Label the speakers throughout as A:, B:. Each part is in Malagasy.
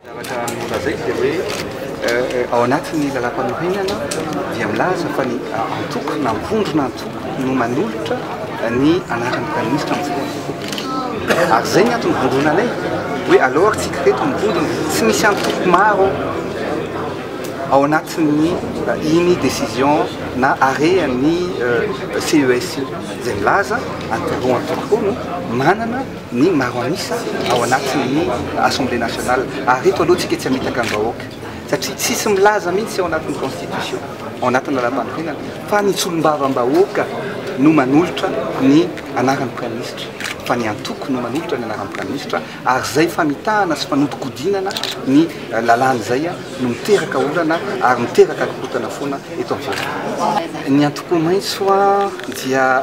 A: Zavatra nolazaiko dia hoe ao anatin'ny lalam-panorenana dia milaza fa ny antoko na vondrona antoko no manolotra ny anaran'ny praiminisitra amin'izay antoko. Ary izay ny antony vondronanay hoe aleo ary tsika reto ny vondrona tsy misy antoko maro ao anatin'ny iny décision na arean'ny CES io izay milaza antoko antoko no manana ny maro an'isa ao anatin'ny Assemblée nationale ary ireto aloha tsika tsy hamitaka ny vahoaka satria tsisy milaza mihitsy ao anatin'ny constitution ao anatin'ny lalàmpanorenana fa ny solombavambahoaka no manolotra ny anaran'ny praiministra fa ny antoko no manolotra ny anaran'ny praiministra ary izay famitahana sy fanodikodinana ny lalàna izay no miteraka olana ary miteraka korontana foana eto amin'ny firenena ny antoko maitso dia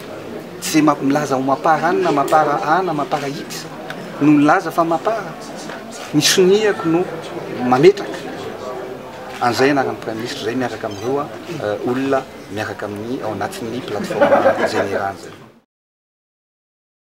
A: Ze milaza ho mapar an na mapar a na mapar x no milaza fa mapar. Ny soniako no mametraka an'izay anaran'ny Praiminisitra izay miaraka amin'ireo olona miaraka amin'ny ao anatin'ny plateforme Jenera izay.